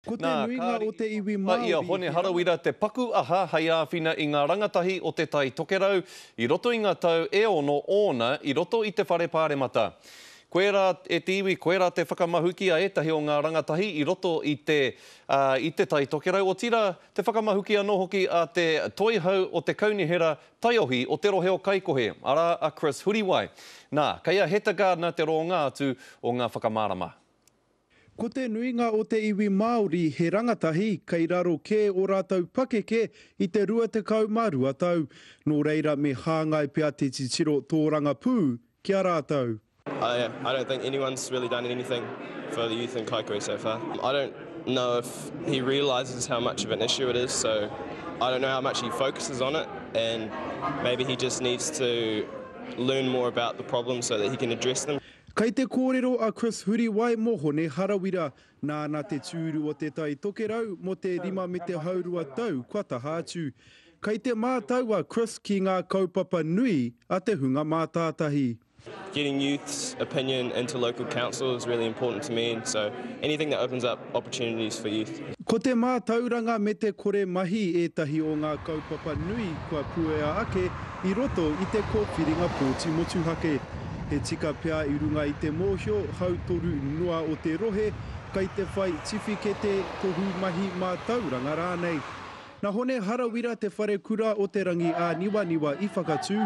Ko te nuinga o te iwi Māori he rangatahi. Nā, kāre i toa a ia Hone Harawira te paku aha hei āwhina i ngā rangatahi o Te Tai Tokerau i roto i ngā tau e ono ōna i roto i te Whare Pāremata. Koe rā, e te iwi, koe rā te whakamahuki a ētahi o ngā rangatahi i roto i te, ā, i Te Tai Tokerau, otirā, te whakamahuki anō hoki a te toihau o te kaunihera taiohi o te rohe o Kaikohe, arā, a Chris Huriwai. Nā, kei a Heta Gardiner te rōnga atu o ngā whakamārama. Ko te nuinga o te iwi Māori he rangatahi kei raro kē ō rātou pakeke i te 22 tau, nō reira me hāngai pea te titiro tōrangapū ki a rātou. I I don't think anyone's really done anything for the youth in Kaikohe so far. I don't know if he realises how much of an issue it is so I don't know how much he focuses on it and maybe he just needs to learn more about the problems so that he can address them. Kei te kōrero a Chris Huriwai mō Hone Harawira, nāna te tūru o Te Tai Tokerau mō te rima me te haurua tau kua taha atu. Kei te mātau a Chris ki ngā kaupapa nui a te hunga mātātahi. Getting youths opinion into local council is really important to me so anything that opens up opportunities for youth. Ko te mātauranga me te kore mahi ētahi o ngā kaupapa nui kua puea ake i roto i te kōwhiringa pōti motuhake. He tika pea i runga i te mōhio hautoru noa o te rohe kei te whai tiwhikete, tohu mahi mātauranga rānei. Nā Hone Harawira te wharekura o Te Rangiāniwaniwa i whakatū,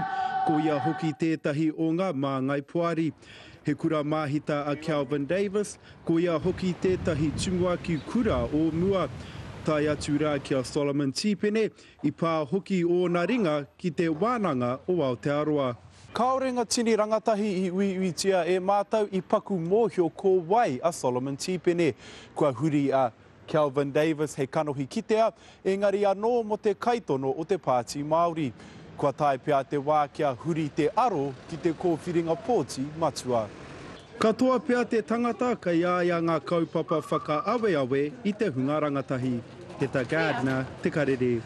ko ia hoki tētahi o ngā māngai poari. He kura māhita a Kelvin Davis, ko ia hoki tētahi tumuaki kura o mua. Tae atu rā ki a Solomon Tīpene, I pā hoki ōna ringa ki te Wānanga o Aotearoa. Kāore ngā tini rangatahi i uiuitia e mātou i paku mōhio ko wai a Solomon Tīpene. Kua huri a Kelvin Davis hei kanohi kitea, engari anō mō te kaitono o te Pāti Māori. Kua tae pea te wā kia huri te aro ki te kōwhiringa pōti matua. Katoa pea te tangata kei a ia ngā kaupapa whakaaweawe i te hunga rangatahi. Heta Gardner, Te Karere.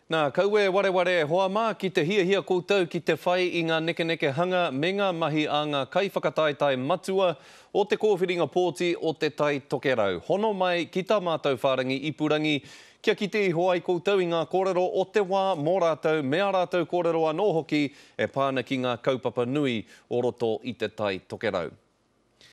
Nā, kaue wareware e hoa mā ki te hiahia koutou ki te whai i ngā nekenekehanga me ngā mahi a ngā kaiwhakataetae matua o te kōwhiringa pōti o Te Tai Tokerau. Hono mai ki tā mātou whārangi ipurangi Kia kite iho ai koutou i ngā kōrero o te wā mō rātou me ā rātou kōrero anō hoki e pā ana ki ngā kaupapa nui o roto i Te Tai Tokerau.